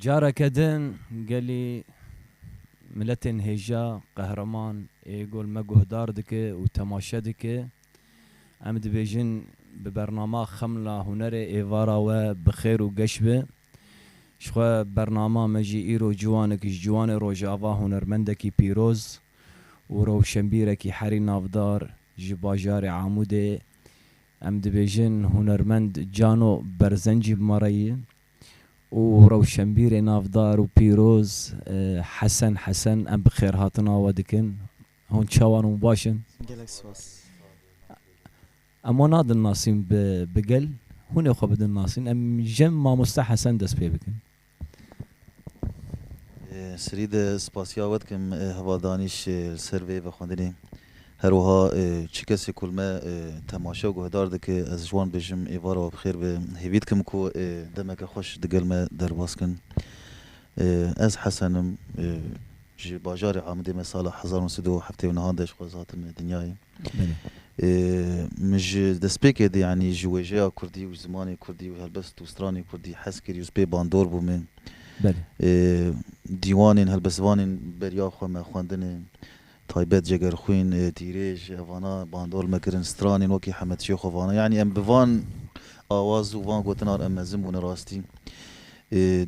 Careke din gelî miletên hêja, qehreman ê gol me guhdar dike û temaşe dike. Em dibêjin bi bernama Xemla Hunerê êvara we bi xêr û geş be. Ji xwe bernama me jî îro ciwanek ji ciwanê Rojava hunermendekî pîroz û rewşenbîrekî herî navdar ji bajarê Amûdê, Em dibêjin hunermend Cano Berzencî bi ma re ye û rewşenbîrê navdar û pîroz Hesen Hesen em bi xêrhatina we dikin. Hûn çawan hûn baş in? Gelek spas. Em wan nadin nasîn bi gel. Hûnê xwe bidin nasîn. Em ji Mamoste Hesen dest pê bikin. Sirî di spasiya we dikim hevaldanîş li ser vê vexwendinê. Her wiha çi kesê ku li me temaşe û guhdar dike ez ji wan dibêjim êvara we bi xêr be. Hêvî dikim ku demeke xweş di gel me derbas kin. Ez Hesen im. Ji bajarê Amidê me sala hezar û nû sed û heftê û nihan de ji xwez hatim dinyayê. Min ji destpêkê de yanî ji wêjeya kurdî û ji zimanê kurdî û helbest ji stranê kurdî hez kirî û ji pê bandor bû min. Dîwanên helbestvanên beriya xwe me xwendine taybet Cegerxwîn, Dîrêj evana bandor me kirin, stranên wekî Hemed Şêxo vana yanî em bi van awaz û van gotinan em mezin bûne rastî.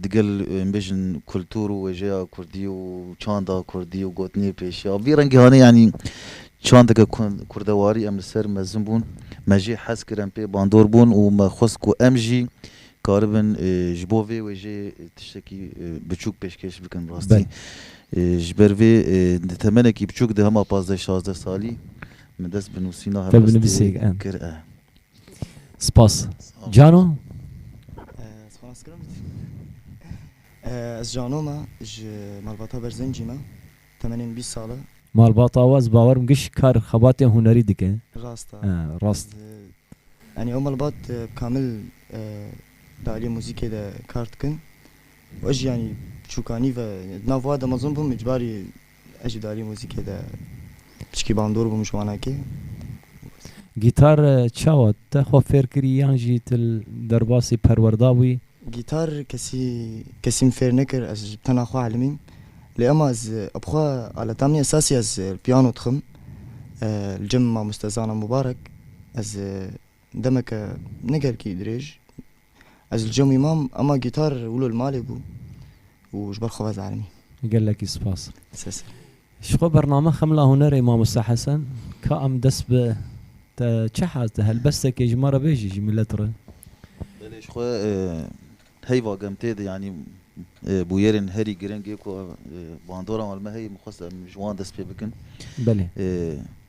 Digel bêjin kultur û wêjeya kurdî û çanda kurdî û gotinê pêşî ya vî rengî hane yanî çandeke kurdewarî em li ser mezin bûn. Me jê hez kir em pê bandor bûn û me xwest ku em jî karibin ji bo vê wêjeyê tiştekî biçûk pêşkêş bikin rastî. Ji ber vê di temenekî biçûk de hema pazdeh şazdeh salî min dest bi nûsîna helwestê kir e. Spas. Cano? Spas kirim. Ez Cano me, ji malbata Berzencî me, temenên bîst sal e. Malbata we ez bawer im giş kar xebatên hunerî dike. Rast e. Rast. Yanî ew malbat bi kamil di aliyê muzîkê de kar dikin û ez jî yanî bi çûkanî ve di nav wa de mezin bûm îcbarî Ez jî di aliyê muzîkê de piçikî bandor bûm ji wanekê. Gîtar çawa te xwe fêr kirî yan jî tu li derbasî perwer dabûyî? Gîtar kesî kesî min fêr nekir ez bi tena xwe elîm îm. Lê ema ez bi xwe aleta min esasî ez li piyano dixwim li cem mamoste Zana Mubarek. Ez demeke ne gelkî dirêj Ez li cemî mam ema gîtar wilo li malê bû û ji ber xwe vezarimî. Gelekî spas. Sê ser. Ji xwe bername Xemla Hunerê Mamoste Hesen ka em dest bi te çi hez de helbestekê ji me re bêjî ji milet re. Belê ji xwe heyva gem tê de yanî bûyerên herî giring ê ku bandora wan li me heye min xwest em ji wan dest pê bikin. Belê.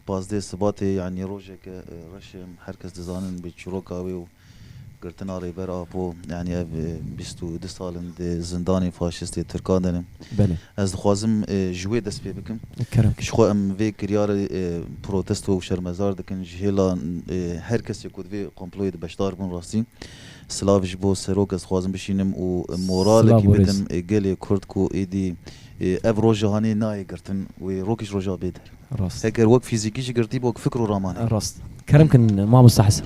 Pazdeh Sibatê yanî rojeke reş e herkes dizanin bi çîroka wê û Girtina Rêber Apo, yanî ev bîst û du sal in di zindanên faşîstê Tirkan de ne. Belê. Ez dixwazim ji wê dest pê bikim. Kerem. Ji xwe em vê kiryarê protesto û şermezar dikin ji hêla her kesê ku di vê komployê de beşdar bûn rastî. Silav ji bo Serok ez dixwazim bişînim û moralekî bidim gelê Kurd ku êdî ev roja hanê nayê girtin wê rokîş roja bê der. Rast. Heger wek fîzîkî jî girtî bi wek fikr û ramanê. Rast. Kerem kin mamosta Hesen.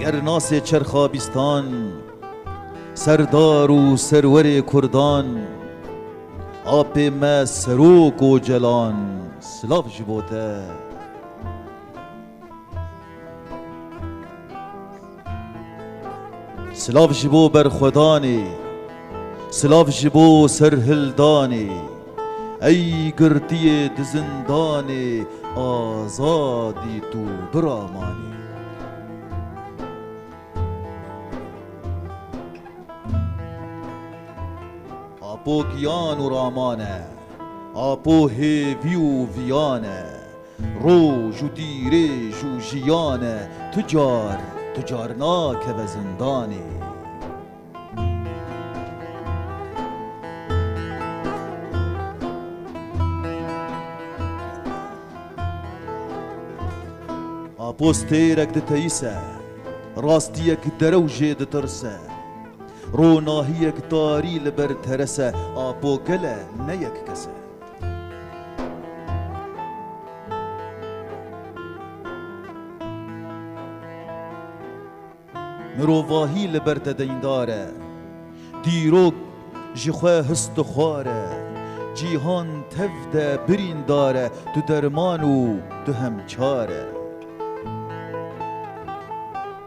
Gernasê çerxa bîstan, serdar û serwerê kurdan, apê me Serok Ocalan, silav ji bo te. Silav ji bo berxwedanê, silav ji bo serhildanê, Ey girtiyê di zindanê azadî tu biramanî. Apo giyan û raman e, apo hêvî û viyan e, Roj û dîrêj û jiyan e tu car tu car nakeve zindanê. Apostêrek diteyise, rastiyek derew jê ditirse. Ronahiyek tarî li ber terese, apo gele ne yek kese. Mirovahî li ber te deyndar e. Dîrok ji xwe his dixwar e. Cîhan tev de birîndar e. Tu derman û tu hem çar e.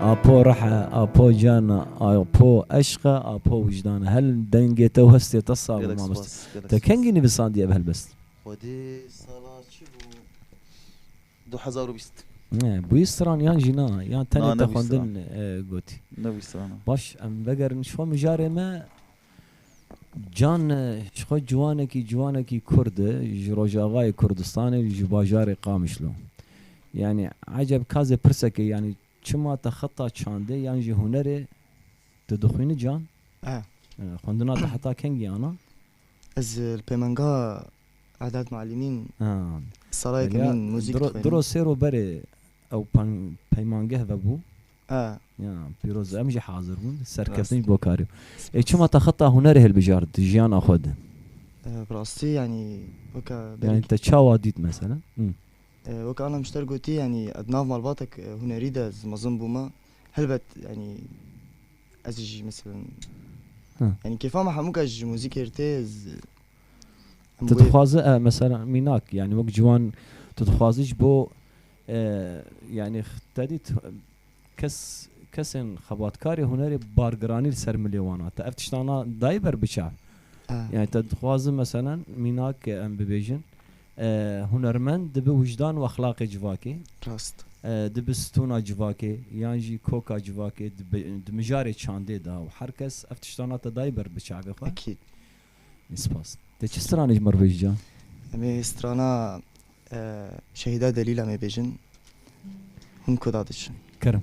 Apo rehe, apo cana, apo eşqe, apo wijdane. Hel dengê te û hestê te sağ be mamoste. Te kengî nivîsandiye ev helbest? Xwedî sala çi bû? Du hezar û bîst. Ne, bûyî stran yan jî na, yan tenê te xwendin gotî. Nebûyî stran. Baş em vegerin şo mijarê me. Can ji xwe ciwanekî ciwanekî kurd e, ji Rojavayê Kurdistanê ji bajarê Qamişlo. Yanî eceb ka zê pirseke yanî çima te xeta çandê yan jî hunerê tu dixwîni Can? Xwendina te heta kengî ana? Ez li pêmenga Edad Muallimîn salaya kemîn muzîk dixwînim. Diro sêro berê ew peymangeh vebû. Ya pîroz em jî hazir bûn. Serkeftin ji bo karê. Ê çima te xeta hunerê hilbijart di jiyana xwe de? Bi rastî yanî weke berî. Yanî te çawa dît mesela? Weke ana nuşter gotî yanî ez di nav malbatek hunerî de ez mezin bûme. Helbet yanî ez jî meselem yanî kêfa me hemûka ji muzîkê re tê ez Tu dixwaze mesela mînak yanî wek ciwan tu dixwazî ji bo Yanî te dît kes kesên xebatkarê hunerê bargiranî li ser milê wan a. Te ev tiştan a dayî ber biça? Yanî te dixwazin meselen mînak em bibêjin hunermend dibi wijdan û exlaqê civakê, dibi stûna civakê yan jî koka civakê di mijarê çandê de û her kes ev tiştan a te dayî ber biçavê xwe. Spas. Te çi stranê ji me re bêj can? Em ê strana Şehîda Delîl em ê bêjin. Hûn kuda diçin? Kerem.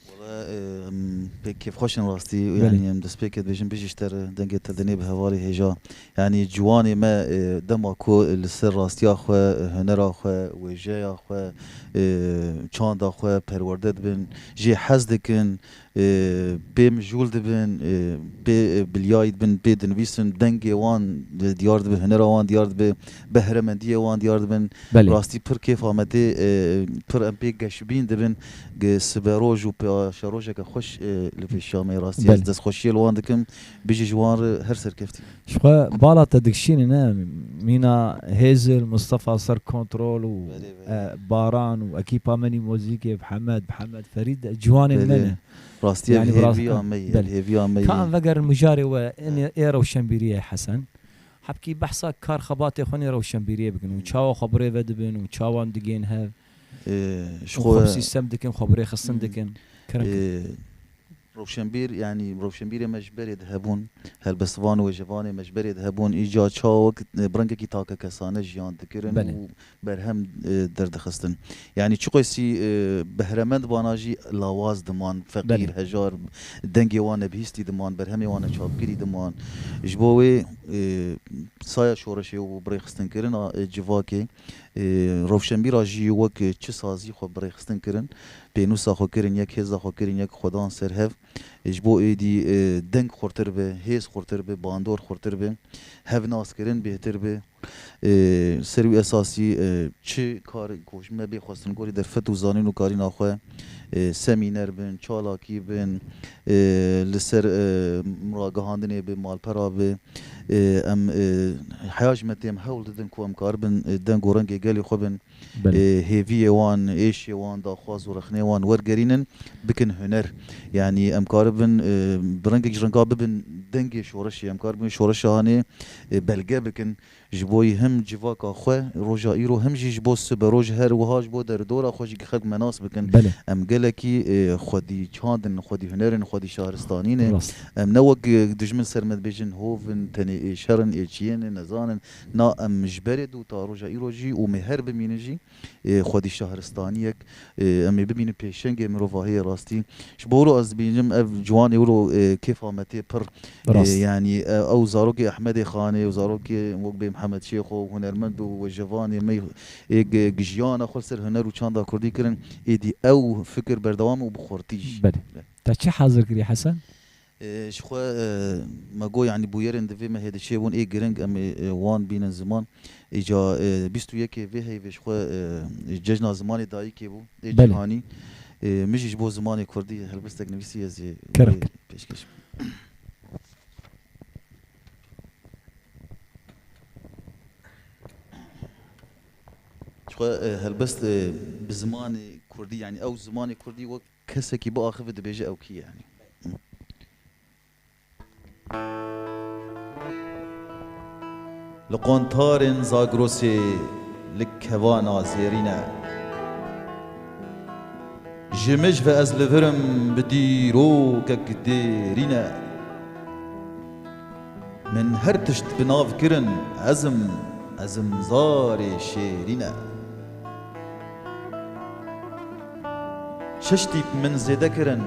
Wala em pêk kêfxweş in rastî û yanî em destpêkê dibêjin bijî ji te re dengê te dinê bi hevalê hêja yanî ciwanê me dema ku li ser rastiya xwe, hunera xwe, wêjeya xwe, çanda xwe perwerde dibin jê hez dikin pê mijûl dibin pê bilyayî dibin pê dinivîsin dengê wan diyar dibe hunera wan diyar dibe behremendiyê wan diyar dibin. Belê. Rastî pir kêf Amedê, pir em pê geşbîn dibin. Siberoj û paşerojeke xweş li vê Şamê rastî ez Belê. destxweşiyê li wan dikim. Bijî ji wan re her serkeftî. Ji xwe bala te dikişînî ne mîna Hêzil, Mistefa Ser Kontrol û Belê belê. Baran û ekîpa Menî Mozîkê bi Hemed, bi Hemed Ferîd de ciwanên me Belê. ne. Rastî ev Yanî bi rast hêviya me ye, ev Belê. hêviya me Ka ye. em vegerin mijarê we, Belê. ê rewşenbîriyê Hesen. Hebkî behsa kar xebatê xwe nê rewşenbîriyê bikin û çawa xwe birê vedibin û çawan digên hev û xwe bi sîstem dikin, xwe birêxistin dikin. Kirink in. Rewşenbîr yanî rewşenbîrê me ji berê dihebûn, helbestvan û wêjevanê me ji berê dihebûn, îcar çawek bi rengekî takekesane jiyan dikirin û berhem derdixistin. Yanî çiqasî behremend vana jî lawaz diman, feqîr, hejar, dengê wan nebihîstî diman, berhemê wan neçapkirî diman. Ji bo wê saya şoreşê û birêxistinkirina civakê rewşenbîra jî wek çi sazî xwe birêxistin kirin, pênûsa xwe kirin, yek hêza xwe kirin, yek xwe dan ser hev. Ji bo êdî deng xurtir bi, hêz xurtir bi, bandor xurtir bi, hevnaskirin bêhtir bi. Ser û esasî çi kar ku ji me bê xwestin gorî derfet û zanîn û karîna xwe, semîner bin, çalakî bin, li ser ragihandinê bi, malpera bi, em heya ji me tê em hewl didin ku em karibin deng û rengê gelê xwe bin. hêviyê wan, êşê wan, daxwaz û rexnê wan wergerînin, bikin huner. Yanî em karibin bi rengek ji rengan bibin dengê şoreşê, em karibin şoreşa hanê belge bikin ji bo yî him civaka xwe roja îro him jî ji bo siberoj her wiha ji bo deridora xwe jî xelk menas bikin. Em gelekî xwedî çand in, xwedî huner in, xwedî şaristanî ne. Em ne wek dijmin ser me dibêjin hov in, tenê ê şer in, ê çiyê ne, nezan in. Na em ji berê dû ta roja îro jî û mê her bimînin jî xwedî şahiristaniyek em ê bimînin pêşengê mirovahiyê rastî ji bo wilo ez dibînim ev ciwanê wilo kêfa me tê pir yanî ew zarokê Ehmedê Xanê û zarokê wek bê Mihemed Şêxo hunermend û wejevanê me ê jiyana xwe li ser huner û çanda kurdî kirin êdî ew fikir berdewam e û bi xurtî jî. Belê. Te çi hazir kirî Hesen? Ji xwe me got yanî bûyerên di vê mehê de çêbûn ê giring em ê wan bînin ziman. Îca bîst û yekê vê heyvê ji xwe Cejna Zimanê Dayikê bû ê cîhanî. Min jî ji bo zimanê kurdî helbestek nivîsî ez ê wê pêşkêş bikim. Ji xwe helbest bi zimanê kurdî yanî ew zimanê kurdî wek Kesekî biaxivî dibêje ew kî ye. Li qontarên Zagrosê li kevana zêrîn e. Ji mij ve ez li vir im bi dîrokek dêrîn e. Min her tişt bi nav kirin ezim, ezimzarê şêrîn e. Şeş tîp min zêde kirin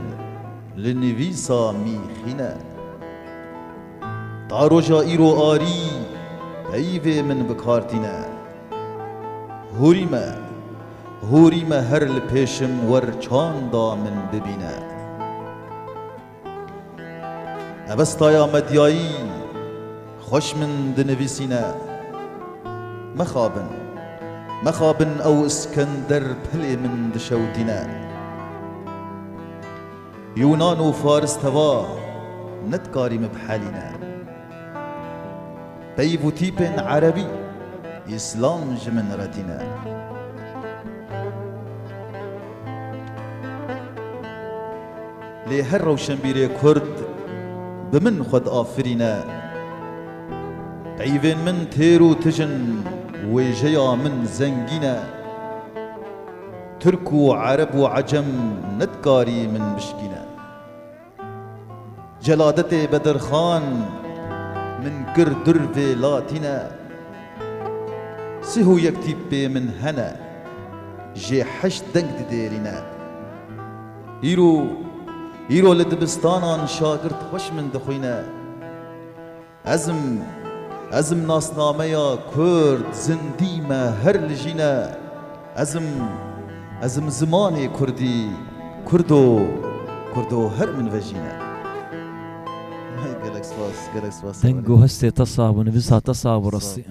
li nivîsa mîxîne. Ta roja îro arî peyvê min bi kar tîne. Hûrî me, hûrî me her li pêşim wer çanda min bibîne. Mebestaya medyayî xweş min dinivîsîne. Mixabin, mixabin ew Iskender dilê min dişewitîne. Yûnan û Faris teva nidkarî min bihelîne. Peyv û tîpên Erebî, Îslam ji min re tîne. Lê her rewşenbîrê kurd bi min xwe diafirîne. Peyvên min têr û tij in, wêjeya min zengîn e. Tirk û ereb û ecem nedikarî min bişkîne. Celadetê Bedirxan min kir dur vê latîne. Sih û yek tîpê min hene, jê heşt deng didêrîne. Îro, îro li dibistanan şagirt xweş min dixwîne. Ez im, ez im nasnameya Kurd zindî me her li jîn e. Ez im, ez im zimanê Kurdî, Kurdo, Kurdo her min vejîne. Gelek spas, gelek spas. Deng û hestê te sax bû, nivîsa te sax bû rastî.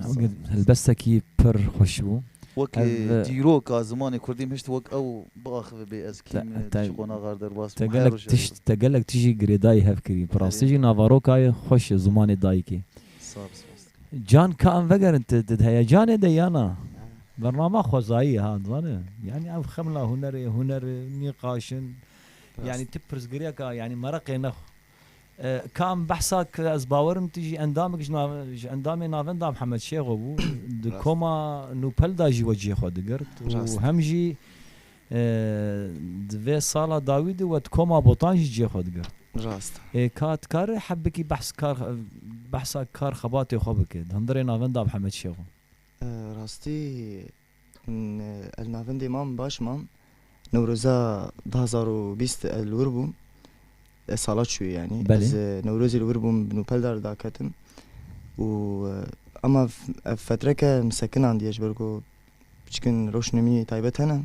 Helbestekî pir xweş bû. Weke dîroka zimanê Kurdî min hişt wek ew. biaxive bê ez kî me tu ji qonaxa re derbas bim her roj ez te gelek tijî girêdayî hev kirî pirastî jî navarokayê xweş e zimanê dayikê can ka em vegerin tu di heyecanê de ya na bernama xwezayî ye ha dizane yanî ev xemla hunerê huner nîqaşin yanî tu pirsgirêka yanî mereqê nexw. Kam behsa ki ez bawer im tu jî endamekî ji ji endamê navenda Mihemed Şêxo bû, di koma nûpel da jî wecihê xwe digirt û hem jî di vê sala dawî de we di koma Botan jî cihê xwe digirt. Rast e. Ê ka dikare hebikî behs kar behsa kar xebatê xwe bike di hundirê navenda Mihemed Şêxo? Rastî Ez navendê mam baş mam. Newroza du hezar û bîst ez li wir bûm. Ez sala çûyê yanî. Ez newrozê li wir bûm bi nûpeldar li da ketim û ema ev fetreke min sekinandiye ji ber ku piçikin rewşnemîyê taybet hene.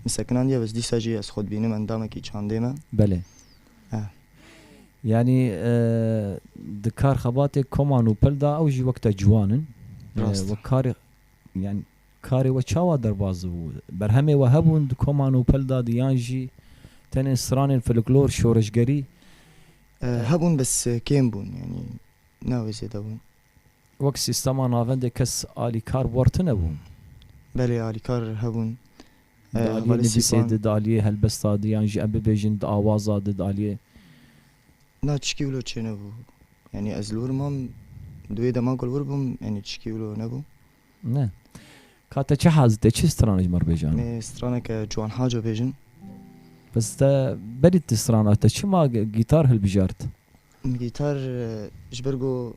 Min sekinandiye bes dîsa jî ez xwe dibînim endamekî çandê me. Belê. Yanî di kar xebatê koma nûpel da ew jî wek te ciwan in. Rast. Wek karê Yan karê we çawa derbas bû? Berhemê we hebûn di koman û pelda di yan jî tenê stranên filiklor, şoreşgerî? Hebûn bes kêm bûn yanî ne wê zêde bûn. Wek sîstema navendê kes alîkar war tune bûn? Belê alîkar hebûn. Di aliyê nivîsê di, di aliyê helbesta di yan jî em bibêjin di awaza di, di aliyê. Na çikî wilo çênebû. Yanî ez li wir mam di wê deman ku li wir bûm yanî çikî wilo nebû. Ne. Ka te çi haz dide? Çi strana ji me re bêje ana? Em ê straneke ciwan haco bêjin. Bes te berî ti strana te çima gîtar hilbijart? Gîtar ji ber ku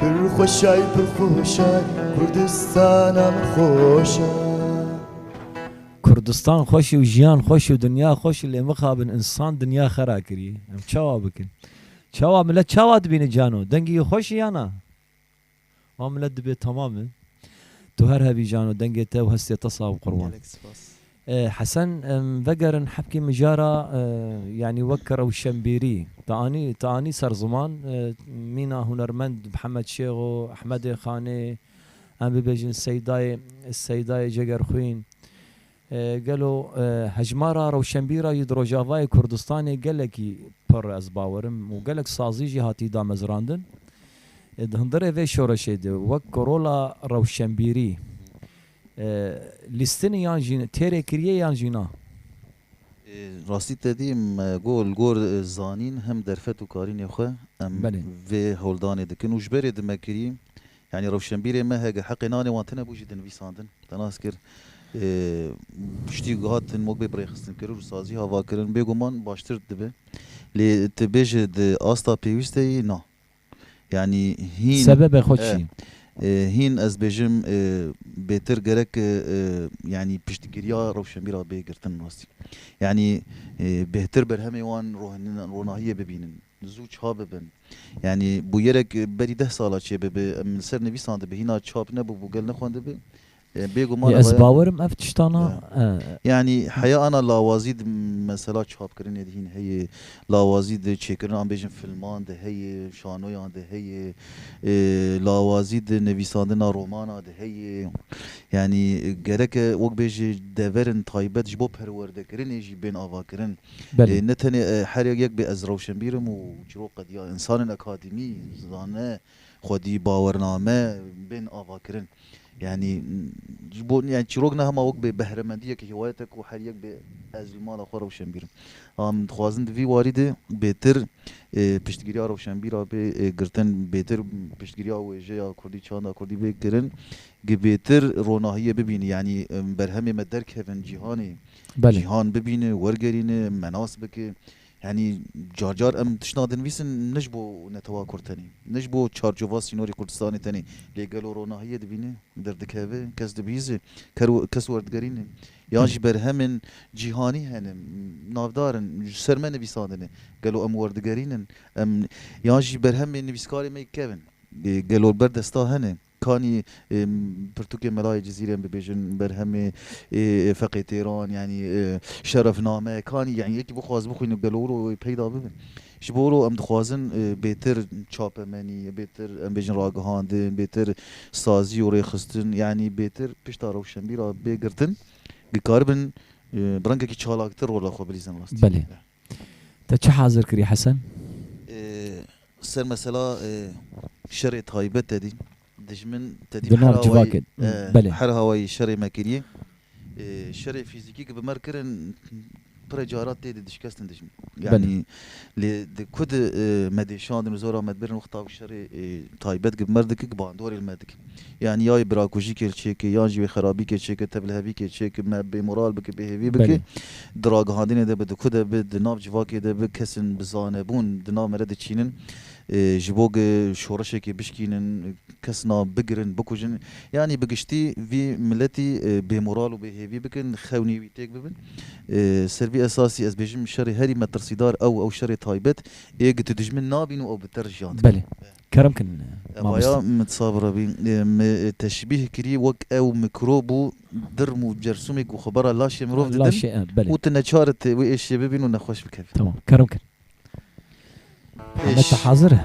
Pir xweşay pir xweşay Kurdistana min xweşa. Kurdistan xweş û jiyan xweş û dinya xweş lê mixabin însan dinya xera kiriye. Em çawa bikin? Çawa milet çawa dibîne cano? Dengê wî xweş e ya na? Wan milet dibê temam e. Tu her hebî cano dengê te û hestê te sax bi qurban. Hesen, em vegerin hebkê mijara yanî wek rewşenbîrî. Te anî te anî ser ziman mîna hunermend Mihemed Şêxo, Ehmedê Xanê, em bibêjin Seydayê Seydayê Cegerxwîn. Gelo hejmara rewşenbîra jî di Rojavayê Kurdistanê gelekî pir ez bawerim û gelek sazî jî hatî damezrandin. Di hundirê vê şoreşê de wek rola rewşenbîrî Lîstinî yan jî têrê kiriye yan jî na? Rastî te dî em got li gor zanîn hem derfet û karînê xwe em vê holdanê dikin û ji berê dime kirî yanî rewşenbîrê me hege heqê nanê wan tine bû jî di nivîsandin te nas kir piştî ku hatin wek bê birêxistinkirin û sazî havakirin bêguman baştir dibe lê tu bêje di asta pêwîsteyî na. Yanî hîn. Sebebê xwe çi? Hîn ez bêjim bêtir gerek yanî piştgiriya rewşenbîra bê girtin rastî. Yanî bêhtir berhemê wan ronahiyê bibînin, zû çap bibin. Yanî bûyerek berî deh sala çêbibe em li ser nivîsan dibe hîna çap nebûbû gel nexwendibe Lê ez bawer im ev tiştan a. Yanî heya ana lawazî di mesela çapkirinê de hîn heye, lawazî di çêkirina em bêjin filman de heye, şanoyan de heye, lawazî di nivîsandina romana de heye. Yanî gereke wek bêjê deverên taybet ji bo perwerdekirinê jî bên avakirin. Lê ne tenê her yek bê ez rewşenbîr im û çirok qediya. Însanên akademî, zane, xwedî bawername bên avakirin. Yanî ji bo yanî çîrok ne hema wek bê behremendiyek hîwayete ku her yek bê ez li mala xwe rewşenbîr im. Bala min dixwazin di vî warî de bêtir piştgiriya rewşenbîra bê girtin, bêtir piştgiriya wêjeya kurdî, çanda kurdî bê kirin ku bêtir ronahiyê bibîne. Yanî berhemê me derkevin cîhanê, cîhan bibîne, wergerîne, me nas bike. Yanî car car em tiştnak dinivîsin ne ji bo netewa kurd tenê, ne ji bo çarçova sînorê Kurdistanê tenê lê gelo ronahiyê dibîne, derdikeve, kes dibihîze, kes werdigerîne yan jî berhemên cîhanî hene navdar in ji ser me nivîsandine gelo em werdigerîn in yan jî berhemên nivîskarê me yek kevin gelo li ber desta hene. Kanî pirtûkê melayê Cizîrê em bibêjin, berhemê feqê têran yanî şerefname, kanî yanî yekî bixwaz bixwîne gelo wir û wê peyda bibe. Ji bo wiro em dixwazin bêtir çapemenî, bêtir em bêjin ragihandin, bêtir sazî û rêxistin yanî bêtir pişta rewşenbîra bê girtin, dikaribin bi rengekî çalaktir rola xwe bilîzin rastî. Te çi hazir kirî Hesen? Ser mesela şerê taybet te dîn dijmin te dîn her awayî belê her awayî şerê me kirî şerê fîzîkî ke bi mer kirin pirê cara tê de dişkestin dijmin yanî lê di ku di me dê şandin û zora me dibirin wexta ku şerê taybet ke bi mer dikin bandorê li me dikin. Yanî ya wê birakujîkê li çêkê yan jî wê xerabîkê çêkê, tevlihevîkê çêkê, me bêmoral bike, bêhêvî bike, di ragihandinê de bi, di ku de bi, di nav civakê de bi kesên bi zanebûn di nav me de diçînin ji bo ku şoreşekê bişkînin, kesna bigirin, bikujin yanî bi giştî vî miletî bêmoral û bêhêvî bikin, xewnî wî têk bibin. Ser vî esasî ez bêjim şerê herî metirsîdar ew, ew şerê taybet ê ku tu dijmin nabîn û ew bi terz jiyan dike. Kerem kin mamoste. Raya min sabira bî. Me teşbîh kirî wek ew mîkrob û dirm û cersûmê ku xwe bara laşê mirov didin Laşê em belê. û tu neçar dikî wê êşê bibîn û nexweş bikevî. Tamam. Kerem kin. Hemed te hazir e?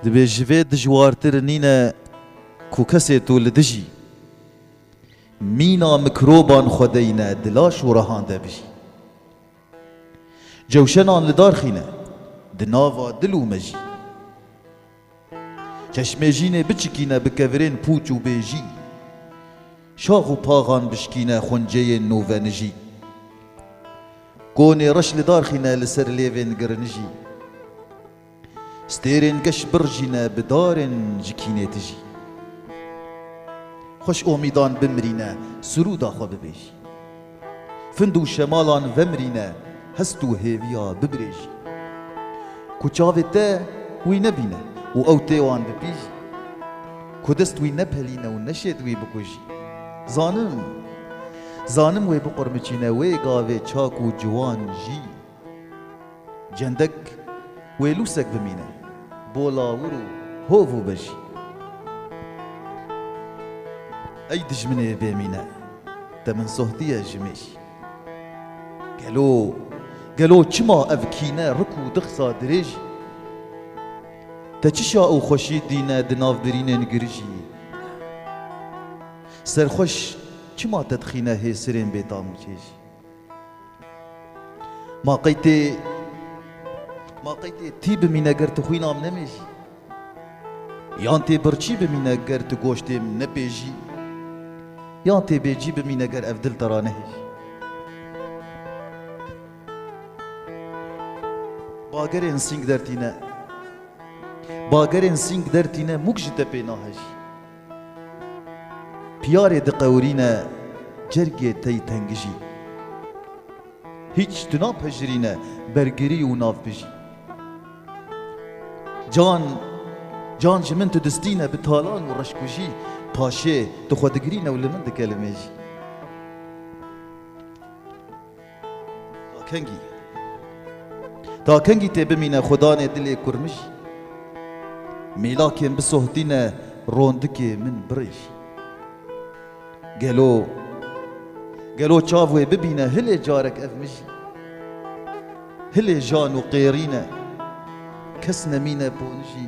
Dibê ji vê dijwartir nîne ku kesê tu li dijî mîna mîkroban xwe deyne di laş û rehan de bijî. Cewşenan li dar xîne. Di nava dil û mejî. Çeşmê jînê biçikîne bi kevirên pûç û bê jî. Şax û paxan bişkîne xonceyên novenijî. Konê reş li dar xîne li ser lêvên girinijî. Stêrên geş birjîne bi darên ji kînê tijî. Xweş omîdan bimirîne sirûda xwe bibêjî. Find û şemalan vemirîne hest û hêviya bibirêjî. Ku çavê te wî nebîne û ew tê wan bipîjî. Ku dest wî nepelîne û neşêt wî bikujî. Zanim, zanim wê biqurmiçîne wê gavê çak û ciwan jî. Cendik wê lûsek bimîne. Bo lawir û hov û bijî. Ey dijminê bê mîne. Te min sohdiye ji mêj. Gelo, gelo çima ev kîne rik û dixsa dirêj? Te çi şa û xweşî dîne di nav birînên girijî? Serxweş çima te dixîne hê sirên bêtam û çêj? Ma qey tê ma qey tê tî bimîne ger tu xwîna min nemêjî. Yan tê birçî bimîne ger tu goştê min nepêjî. Yan tê bêcî bimîne ger ev dil te ra nehêjî. Bagerên sîng dertîne, bagerên sîng dertîne mûk ji te pê nahejî. Piyarê diqewirîne cergê tey tengijî. Hîç tu napejirîne bergirî û navbijî. Can, can ji min tu distîne bi talan û reşkujî, paşê tu xwe digirîne û li min dike li mêjî. Kengî Ta kengî tê bimîne xwe danê dilê kurmijî Mêlakên bisohtîne rondikê min birêjî Gelo gelo çav wê bibîne hilê carek ev mijî Hilê jan û qêrîne kes nemîne ponijî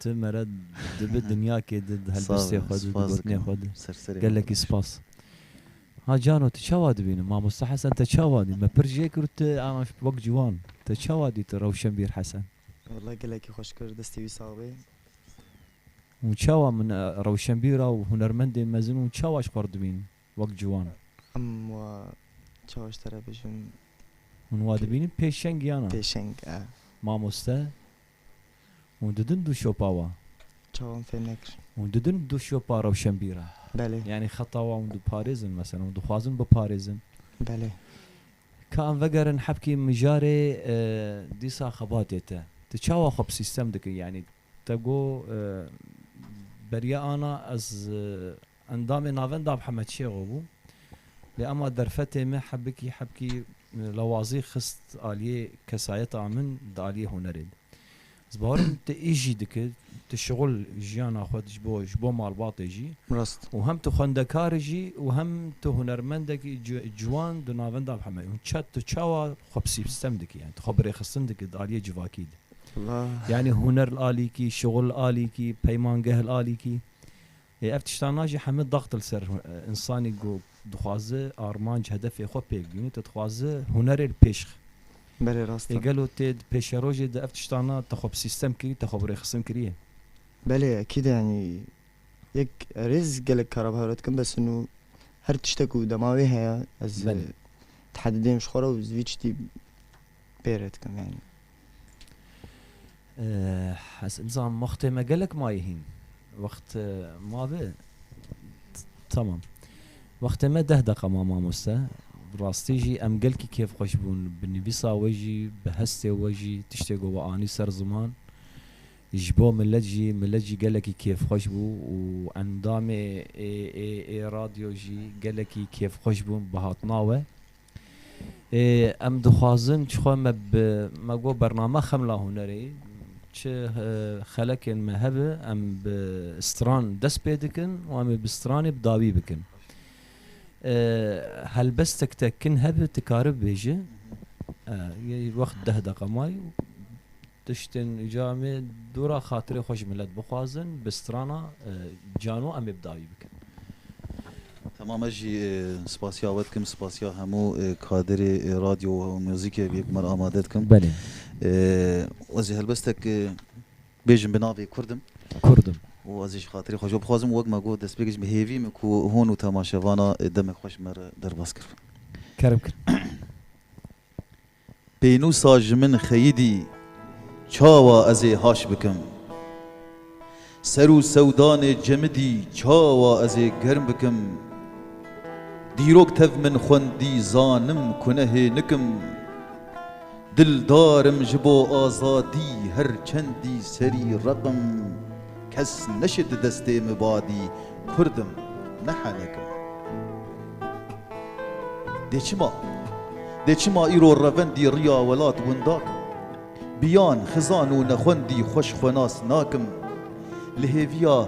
Tu mere dibi dinyakê di di helbestê xwe di, di gotinê xwe di. Gelekî spas. Ha cano tu çawa dibîni? Mamosta Hesen te çawa dî? Me pir jê kir û tu anaş wek ciwan. Te çawa dî tu Rewşenbîr Hesen? Wellay gelekî xweş kir, destê wî sax bê. Hûn çawa min rewşenbîra û hunermendê mezin hûn çawa ji xwe re dibînin wek ciwan? Em wa çawa ji te re bêjin? Hûn wa dibînin pêşeng yana? Pêşeng e. Mamoste? Hûn didin du şopa wa? Çawan fêm nekir. Hûn didin du şopa rewşenbîran? Belê. Yanî xeta wa hûn diparêzin meselen hûn dixwazin biparêzin? Belê. Ka em vegerin hebkî mijarê dîsa xebatê te. Tu çawa xwe bi sîstem dikir? Yanî te got beriya ana ez Endamê navenda Mihemed Şêxo bû. Lê ema derfetê me hebikî hebkî lawazî xist aliyê kesayeta min di aliyê hunerê de. Ez bawerim tu îş jî dikir, tu şixul jiyana xwe ji bo ji bo malbatê jî Rast. û hem tu xwendekar jî û hem tu hunermendekî ci ciwan di navenda Mihemed û çet tu çawa xwe bi sîpstem dikî yanî tu xwe bi rêxistin dikî di aliyê civakî de. Wallahî. Yanî huner li alîkî, şixul li alîkî, peymangeh li alîkî. Lê ev tiştan a jî heme dax dil ser însanî ku dixwaze armanc hedefê xwe pêk bîne, te dixwaze hunerê li pêş xi. Belê rast e. Lê gelo tê di pêşerojê de ev tiştan a te xwe bi sîstem kirî, te xwe bi rêxistin kiriye? Belê ekîd e yanî yek rêz gelek kara bi hev re dikim bes in û her tişte ku dema wê heye ez tehedideyim ji xwe re û zivî çitî pê re dikim yanî. Ez nizam wextê me gelek maye hîn. Wext ma be tamam. Wextê me deh deqa ma mamoste. Bi rastî jî em gelkî kêfxweş bûn. Bi nivîsa we jî, bi hestê we jî tiştê ku we anî ser ziman ji bo milet jî, milet jî gelekî kêfxweş bû û endamê ê ê ê radyo jî gelekî kêfxweş bûn bi hatina we. Ê em dixwazin çi xwe me bi me got bername Xemla Hunerê çi xelekên me hebe em bi stran dest pê dikin û em ê bi stranê bi dawî bikin. Helbestek te kin hebe ti karibe bêje, yê wext deh deqa maye Tiştên uca em ê dora xatirê xwe ji milet bixwazin, bi strana cano em ê bi dawî bikin. Temam ez jî spasiya we dikim, spasiya hemû kadirê radyo û muzîkê vê bûmer amade dikim. Belê. Ez jî helbestek bêjim bi navê Kurd im. Kurd im. Û ez ê ji xatirê xwe ji we bixwazim û wek me got destpêkê jî bi hêvî min ku hûn û temaşevana demek xwe ji me re derbas kiribin. Kerem kir. Pênûsa ji min xeyidî çawa ez ê haş bikim? Ser û sewdanê cemidî çawa ez ê germ bikim? Dîrok tev min xwendî zanim ku ne hê nikim. Dildar im ji bo azadî her çendî serî reqim. Kes neşit destê mi badî Kurd im, ne henek im. Dê çima? Dê çima îro revendî riya welat windak im? Biyan, xizan û nexwendî xweş xwe nas nakim. Li hêviya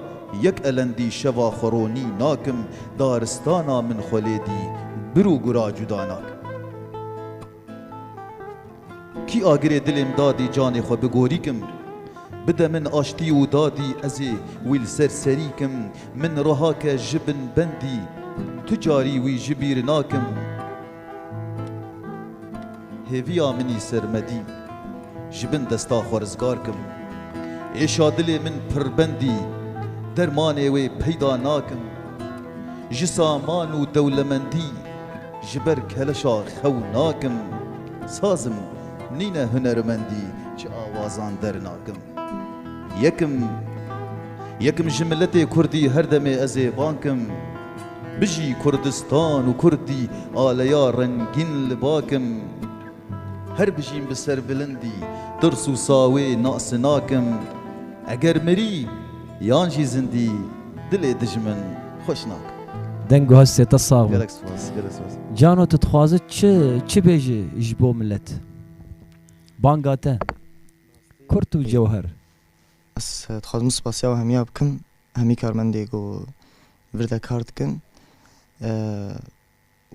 yek elendî şeva xwe ronî nakim, daristana min xwe lêdî bir û gura cuda nakim. Kî agirê dilêm dadî canê xwe bigorîkim Bide min aştî û dadî ezê wî li ser serîkim Min rihake ji bin bendî tu carî wî ji bîr nakim Hêviya minî sermedî ji bin desta xwe rizgar kim Êşa dilê min pirbendî dermanê wê peyda nakim Ji saman û dewlemendî Ji ber keleşa xew nakim sazim nîne hunermendî ji awazan dernakim yekim yekim ji miletê kurdî her demê ez ê bankim bijî kurdistan û kurdî aleya rengîn li bakim. Her bijîm bi serbilindî, tirs û sawê nasê nakim, eger mirî yan jî zindî dilê dijmin xweş nakim. Deng û hestê te sax be. Gelek spas, gelek spas. Cano tu dixwazi çi çi bêji ji bo milet? Banga te. Kurt û cewher. Ez dixwazim spasiya hemiya bikim hemî karmendê ku vir de kar dikin.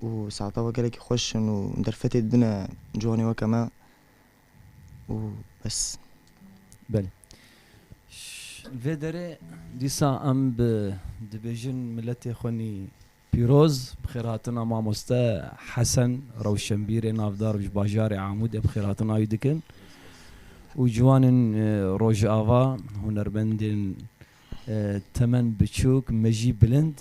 û saeta we gelekî xweş in û derfetê dibine ciwanê weke me û bes. Belê. Li vê derê dîsa em bi dibêjin miletê xwe nî pîroz, bi xêrhatina mamoste Hesen, rewşenbîrê navdar ji bajarê Amûdê bi xêrhatina wî dikin û ciwanên Rojava, hunermendên Temen biçûk, mejî bilind.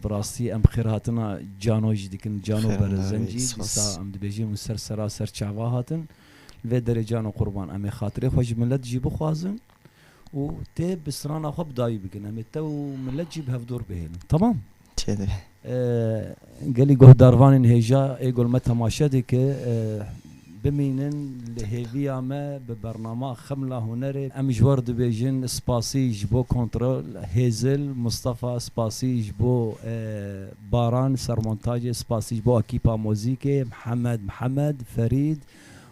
Bi rastî em xêrhatina cano jî dikin. Cano Berezencî dîsa em dibêjin hûn ser sera ser çava hatin. Li vê derê cano qurban em ê xatirê xwe ji milet jî bixwazin û tê bi strana xwe bi dawî bikin. Em ê te û milet jî bi hevdor bihêlin. Temam? Gelî guhdarvanên hêja Êgul me temaşe dike. Bimînin li hêviya me bi bernama Xemla Hunerê. Em ji we re dibêjin spasî ji bo kontrol Hêzil, Mistefa spasî ji bo Baran sermontajê, spasî ji bo ekîpa mozîkê Mihemed Mihemed, Ferîd